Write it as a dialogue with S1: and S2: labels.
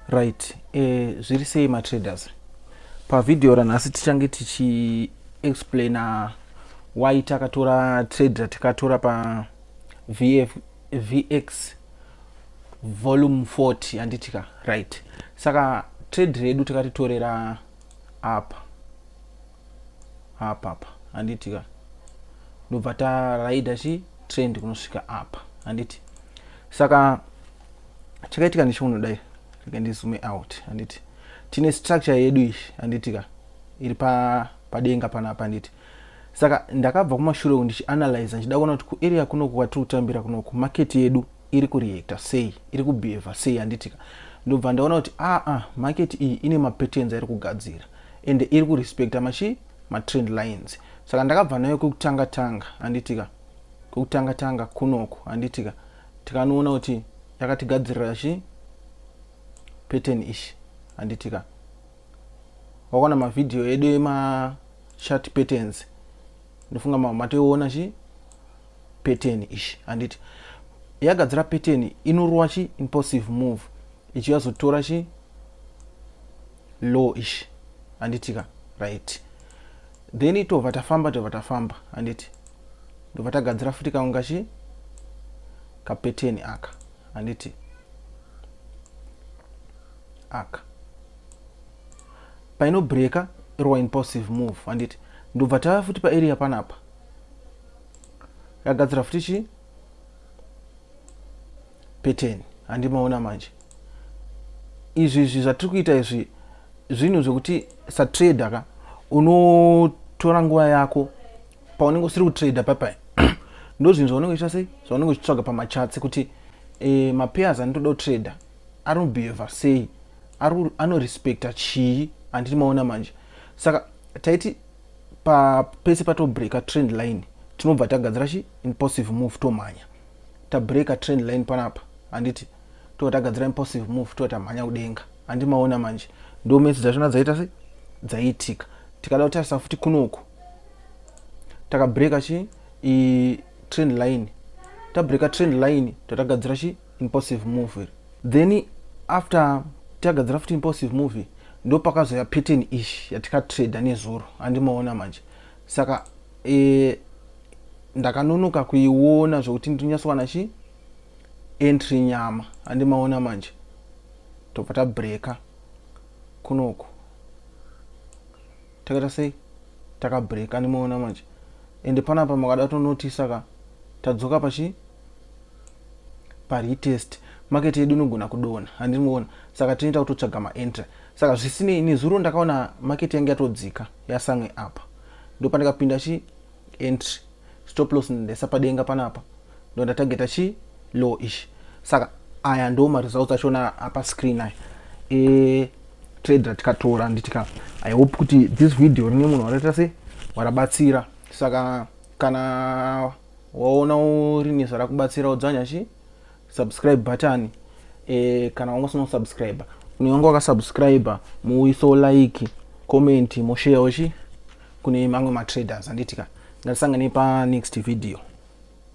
S1: Right, eh, zviri sei matraders? Pavhidhiyo ranhasi tichange tichiexplaina why takatora trade ratikatora pa VF, VX volume 40 handitika right. Saka trade redu takatitorera apa apa apa handitika ndobva taraida chi trend kunosvika apa handiti saka chakaitika ndicho unodai rega ndizume out handiti tine structure yedu ishi handiti ka iri padenga panapa handiti saka ndakabva kumashure uku ndichianalyza ndichida kuona kuti kuarea kunoku kwatiri kutambira kunoku market yedu iri kureacta sei iri kubehava sei handitika ndobva ndaona kuti aa ah, market iyi ine mapatterns airi kugadzira ende iri kurespecta machi matrend lines saka ndakabva nayo kwekutanga tanga handitika kwekutanga tanga kunoku handitika tikanoona kuti yakatigadzirira chi pattern ichi handitika wakaona mavhidhiyo edu emachat patterns ndofunga mamwe matoiona chi pattern ichi handiti yagadzira pattern inorova chi impulsive move ichi yazotora chi low ichi handitika right then tobva tafamba tobva tafamba handiti ndobva tagadzira futi kamwe kachi kapeteni aka handiti aka painobreaker irwa impulsive move handiti ndobva tava futi paarea panapa yagadzira futi chii pattern handimaona manje izvi izvi zvatiri kuita izvi zvinhu zvekuti satrader ka unotora nguva yako paunenge usiri kutrader papai ndo zvinhu zvaunenge uchiita sei zvaunenge uchitsvaga pamachatsi kuti e, mapayers anotoda kutrader ari kubehava sei anorespecta chii handiti maona manje saka taiti pa pese patobreaker trend line tinobva tagadzira chi impulsive move tomhanya tabreaker trend line panapa handiti tova tagadzira impulsive move tova tamhanya kudenga handi maona manje ndo mesi dzachona dzaita se dzaiitika tikada kutarisa futi kunoku takabreaker chi i trend line tabreaker trend line totagadzira chi impulsive move iri then after tagadzira futi impulsive move ndopakazoya pattern ish yatikatrader nezuro andimaona manje saka e, ndakanonoka kuiona zvekuti ndinyasowana chi entry nyama andimaona manje tobva tabreaker kunoku takaita sei takabreaker andimaona manje ende panapa makada tonotisa ka tadzoka pachi paretest market yedu inogona kudona handiri muona saka tinoita kutotsvaga maentry saka zvisinei nezuro ndakaona market yange yatodzika yasamwe apa ndopandikapinda chi entry stop loss ndaisa padenga panapa ndondatageta chi low ichi saka aya ndo maresults achona apa screen aya e trade ratikatora nditika i hope kuti this video rine munhu wakaita se warabatsira saka kana waona urini zvarakubatsira udzwanya chi subscribe button e, kana wanga usina kusubscribe kune wanga wakasubscribe muwiso like comment mosheyawo chi kune mamwe matraders anditika ngatisanganei panext video